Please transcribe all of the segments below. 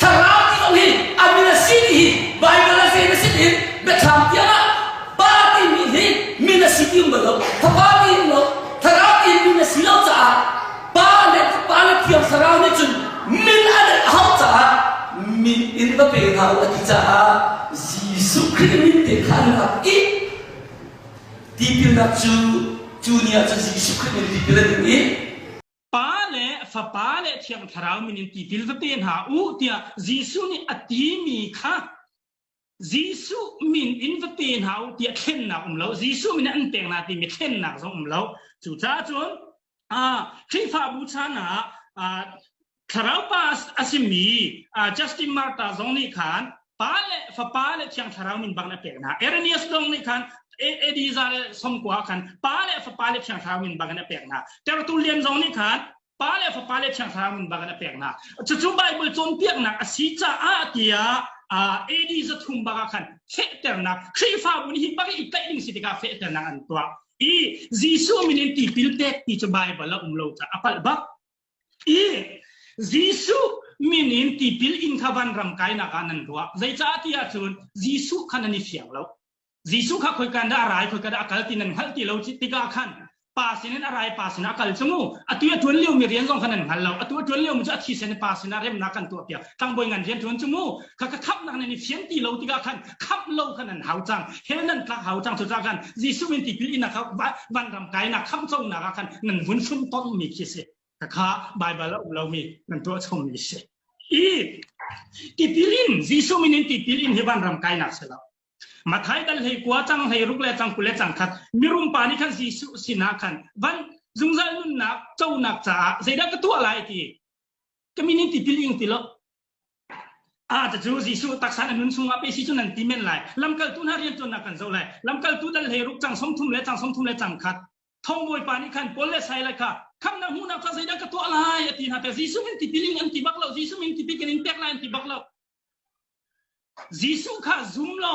Thlarau tiang hin an min a si ti hi Baibal a zei na si tiin biathlam tiang ah Pa timi hi min a si ti um bal lo. Fapa tiin lo, thlarau tiin min a si lo caah Pa le Pa le thiang thlarau nih cun min an a hau caah min in va pe hna u a ti caah Jesuh Khrih min te kha an rak i tipilnak cu cu ni ah cun Jesuh Khrih min tipil an ing i Pa le fapa le thiang thlarau min in ti dil vate hna u tiah Jesuh nih a ti mi kha Jesuh min in vate hna u tiah thlennak um lo Jesuh min an peng na timi thlennak zong um lo cucaah cun Khrihfabu chan ah thlarau pa a simi Justin Martyr zong nih khan pa le fapa le thiang thlarau min bang na pek hna Eremias dong nih khan Elijah le somkua khan pa le fapa le thiang thlarau min bang na pek hna tertu lian zong nih khan pa le fapa le thiang thlarau min bang na pek hna cucu Bible cawnpiaknak a si caah tiah Elijah thum baka khan fehternak Khrihfabu ni hi baka i tlaih ding si tikah fehternak an tuah i Jesuh min in tipil pek ti cu Bible a um lo caah a palh bak i Jesuh min in tipil in kha vanram kainak ah nan ruah. Zeicah tiah cun Jesuh kha nan i fiang lo. Jesuh kha khoika dah a rai, khoika dah a kal ti nan hngalh ti lo tikah khan pa sinin a rai, pa sinah a kal cung u. Atu a tuan liomi rian zong kha nan hngal lo. Atu a tuan liomi cu a thisen i pa sinah remnak kan tuahpiak. Tlangbawi ngan rian tuan cung u. Kha ka khamhnak nan i fian ti lo tikah khan khamh lo khan an hau cang he nan tlak hau cang cucaah khan Jesuh min tipil inak kha vanram kainak khamhconak ah khan nan vun sum ton mi khi si khakha Baibal a um lomi nan tuah chungmi si i tipil in Jesuh min in tipil in hi vanram kainak si lo Mathai dal hei kwa chang hei ruk le chang ku le chang khat mirum pa ni khan Jesuh sinah khan van zungzal nunnak chonak caah zeidah ka tuah lai ti community building ti lo a ta cu Jesuh taksa na nun chungah pe si cu nan ti men lai lamkal tu hna rian tuannak kan zo lai lamkal tu dal hlei ruk chang som thum le chang som thum le chang khat thong bawipa nih khan Paul le Saila kha kham na hmu na kha zeidah ka tuah lai a ti hna pe Jesuh min ti piling an ti bak lo Jesuh min ti pikin in pek lai an ti bak lo Jesuh kha zum lo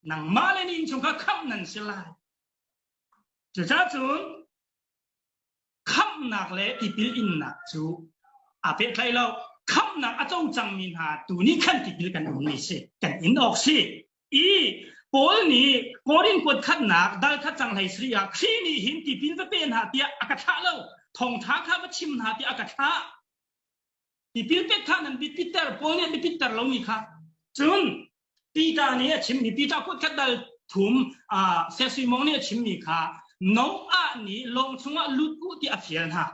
nangmah le ni in chung kha kham nan si lai cuca cun khamhnak le tipil innak cu aa pehtlaih lo. Khamhnak a co cangmi hna tu nih khan tipil kan ummi si, kan in awk si. I Paul nih Korin kuat khatnak dal khat cang hlei sri ah Khrih nih hin tipil va pe hna tiah a ka thlah lo. Thawngtha kha va chim hna tiah a ka thlah. Tipil pek kha nan bit pitter, Paul nih an bit pitter lomi kha. Cun Peter nih a chimmi, Peter kutkhat dal thum uh, Sesimong nih a chimmi kha Noah nih lawng chungah lut u ti a fial hna.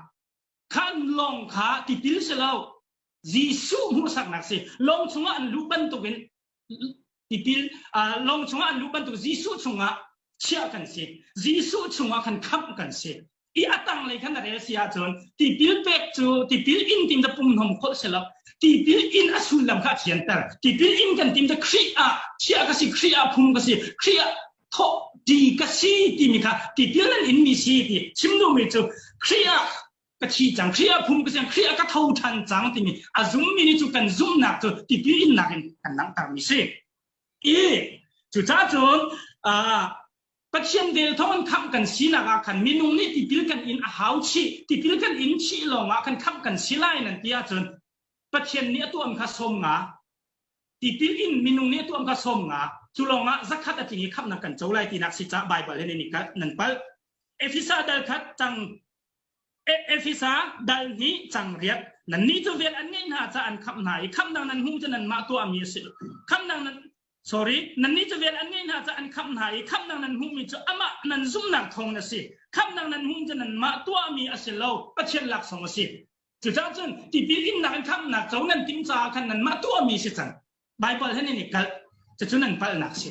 Kha lawng kha tipil si lo, Jesuh hmuhsaknak si. Lawng chungah an lut bantukin tipil long chungah an luh bantuk Jesuh chungah chiah kan si Jesuh chungah khan khamh kan si i a tang lei khan a rel si ahcun tipil pek cu tipil in tim da pum nom khol selo tipil in a sullam kha thianter tipil in kan tim da Khrih ah chiah ka si Khrih ah phum ka si Khrih ah thawh ti ka si timi kha tipil nan in mi si ti chimnu mi cu Khrih ah ka thi cang, Khrih a phum ka cang, Khrih a ka tho ṭhan cang timi a zummi nih cu kan zumhnak cu tipil innak in kan langhtermi si. I cucaah cun Pathian vel thawng in khamh kan sinak ah khan minung nih tipil kan in a hau chih, tipil kan in chih lawngah khan khamh kan si lai nan ti ahcun Pathian nih a tuahmi kha sawm nga, tipil in minung nih a tuahmi kha sawm nga, cu lawngah zakhat a tling i khamhnak kan co lai tinak si caah Baibal hin in nan palh. Efesa dal khat cang Efesa dal nih cangriat nannih cu vel an ngeih hna caah an khamh hna i khamhnak nan hmu cu nanmah tuahmi a si lo. Khamhnak nan sorry nannih cu vel an ngeih hna caah an khamh hna i khamhnak nan hmuhmi cu amah nan zumhnak thawngin a si. Khamhnak nan hmuhmi cu nanmah tuahmi a si lo, Pathian laksawng a si. Cucaah cun tipil innak in khamhnak co nan timh caah khan nanmah tuahmi a si cang. Baibal he nan i kalh. Cucu nan palhnak a si.